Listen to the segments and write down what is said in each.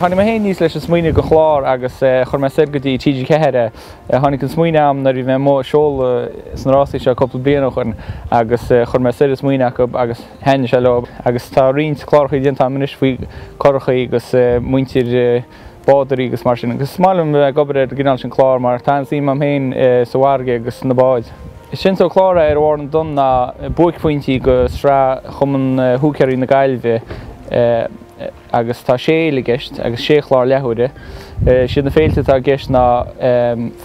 Tháinig mé féin aníos leis an smaoineamh go chlár agus chuir mé soir go dtí TG4. Tháinig an smaoineamh agam nuair a bhí mé amuigh ag seoladh sna rásaí seo cúpla bliain ó shoin agus chuir mé soir an smaoineamh acu agus thaitin sé leo agus tá roinnt clárachaí déanta agam anois faoi churachaí agus muintir bádóirí agus mar sin agus is maith liom a bheith ag obair ar an gcineál sin clár mar tá an-suim agam féin sa bhfarraige agus sna báid. Is sin sa gclár Ar Bharr na dTonn ná buaicphointí go sraith Chumann Húicéirí na Gaillmhe agus tá sé fhéile i gceist agus sé chlár leathuaire. Siad na féilte atá i gceist ná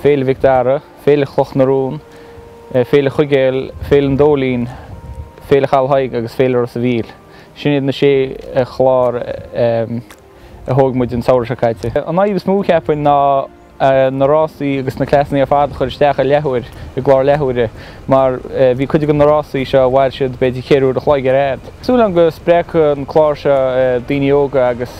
Féile Mhic Dara, Féile Chloch na Rón, Féile Chuigéil, Féile an Dóilín, Féile Chaladh Thaidhg agus Féile Ros a' Mhíl. Sin iad na sé chlár. a thóg muid an samhradh seo caite. An fhadhb is mó, cheapfainn, ná na rásaí agus na classannaí ar fad a chur isteach i leathuair, i gclár leathuaire, mar bhí cuid de na rásaí seo, mhair siad b'fhéidir ceithre uair a chloig ar fhad. Súil agam go spreagfadh an clár seo daoine óga agus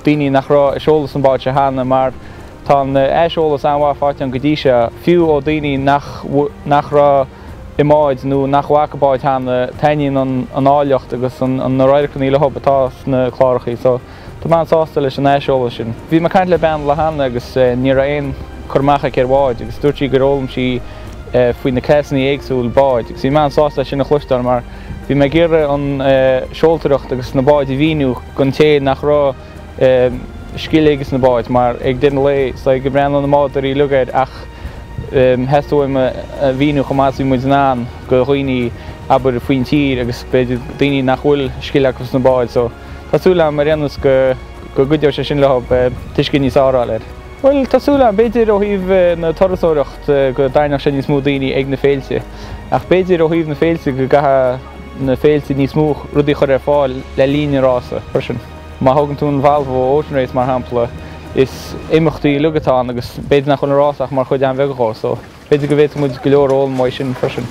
daoine nach raibh ag seoladh sna báid seo cheana mar tá aiseolas an-mhaith faighte agam go dtí seo, fiú ó daoine nach raibh. i mbáid nó nach bhfaca báid cheana, taitníonn an áilleacht agus na radharcannaí leo atá sna clárachaí. So, tá mé an-sásta leis an aiseolas sin. Bhí mé ag caint le bean an lá cheana agus ní raibh aon cur amach aici ar bháid agus dúirt sí gur fhoghlaim sí faoi na classannaí éagsúil báid agus bhí mé an-sásta é sin a chloisteáil mar bhí mé ag iarraidh an seoltóireacht agus na báid a mhíniú don té nach raibh scil aige sna báid, mar ag deireadh an lae, is é go mbreathnaíonn na bádóirí uilig air ach theastaigh uaim a mhíniú chomh maith is a bhí muid in ann go dhaoine, abair, faoin tír agus b'fhéidir daoine nach bhfuil scil acu sna báid. So, tá súil agam, ar aon nós, go gcuideoidh sé sin leo tuiscint níos fearr a fháil air. Bhuel, tá súil agam. B'fhéidir ó thaobh na turasóireacht go dtarraingeodh sé níos mó daoine ag na féilte. Ach b'fhéidir ó thaobh na féilte go gcaithfeadh na féilte níos mó rudaí a chur ar fáil le linn an rása freisin. Má thógann tú an Volvo Ocean Race mar shampla, is imeachtaí uilig atá ann agus b'fhéidir nach bhfuil an rás ach mar chuid an-bheag dhó, so b'fhéidir go bhféadfadh muid go leor a fhoghlaim uaidh sin freisin.